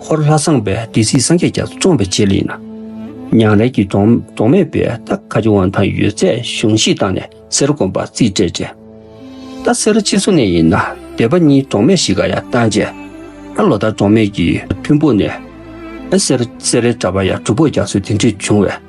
འཁོར་ལྷ་བསངས་པའི་སྡེ་སྲིད་སངས་རྒྱས་ཀྱང་བཙོངས་པའི་རྗེས་ལེན། ཉང་རལ་གྱི་གདོང་མེད་པའི་རྟ་ཁ་སྦྱོར་བ་དང་ཡོད་ཚད་གཞུང་བཞེས་བཏང་ནས་གསེར་རུ་བསྒོམ་པར་རྩིས་སྤྲད་རྗེས། རྟ་གསེར་ཕྱི་སོ་ནས་ཡིན་ན་སྡེ་པ་གཉིས་གདོང་མེད་ཞིག་ག་ཡ་བཏང་རྗེས། ད་ལོ་ལྟར་གདོང་མེད་ཀྱི་ཐུན་ཕུག་ནས་གསེར་རའི་གྲྭ་པ་ཡ་གྲུ་ཕོག་རྒྱག་སྲོལ་དེ་འདྲས་བྱུང་བས།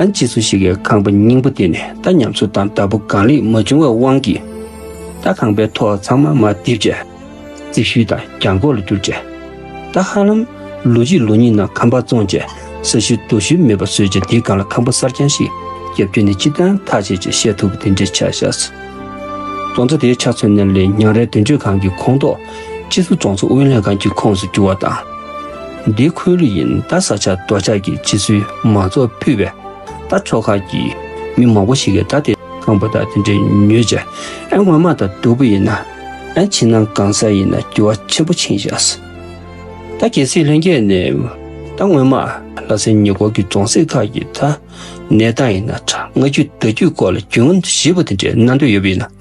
ཨ་ཅེ་སུ་ཞིག་གིས་ཁང་པ་རྙིང་པོ་དེ་ནས་རྟ་ཉམས་གསོ་དང་བདག་པོ་གང་ལེགས་མ་བྱུང་བའི་དབང་གིས། རྟ་ཁང་པའི་ཐོག་ཚང་མ་མ་བརྡིབས་རྗེས། རྩིག་ཤུལ་དང་གྱང་གོག་ལ་བསྒྱུར་རྗེས། རྟ་ཧ་ལམ་ལོ་གཅིག་ལོ་གཉིས་ནང་ཁང་པ་བཙོངས་རྗེས་ས་ཤུལ་རྡོ་ཤུལ་མེད་པར་བཟོས་རྗེས་དེའི་སྒང་ལ་ཁང་པ་གསར་རྐྱང་ཞིག་བརྒྱབ་རྒྱུ་ནི་ཅི་ལྟར་ཐག་བཅད་ཅེས་བཤད་ཐུབ་པ་དེ་འདྲའི་ཆ་བཞག་སྲིད། བཙོང་རྩ་དེའི་ཆ་མཚོན་ན་ལས་ཉག་རལ་དོན་གཅོད་ཁང་གི་ཁོངས་གཏོགས། སྤྱི་ཟུར་རྫོང་ཚོགས་དབུས་ལྷན་ཁང་གི་ཁོངས་སུ་གྱུར་བ་དང། འདི་ཁོའི་ལུས་ཡིན་རྟ་ས་ཆ་རྡོ་ཆག་གི་སྤྱི་ཟུར་མང་ཚོགས་ཕུད་པའི་རྟ་ཕྱོགས་ཁག་གི་མི་མང་པོ་ཞིག་གིས་རྟ་དེ་གང་བོ་དང་དེ་འདྲའི་མྱོས་བྱ་ཨེ་ངོ་མ་དང་སྡུག་པོ་ཡིན་ན་ཨེ་ཕྱི་ནང་གང་ས་ཡིན་ན་འགྱུར་བ་ཆེན་པོ་ཕྱིན་བཞག་སྲིད། རྟ་གྱེས་སྲིད་ལྷན་རྒྱས་ནས་རྟ་སྔོན་མ་ལྷ་སའི་ཉེ་འཁོར་གྱི་རྫོང་སྲིད་ཁག་གི་རྟ་གནས་སྟངས་ཡིན་ན་དྲ་ང་བརྒྱུད་བརྡ་བརྒྱུད་སྐོར་ལ་རྒྱུན་ཞིབ་པོ་དེ་འདྲའི་གནང་འདོད་ཡོད་པ་ཡིན་ན།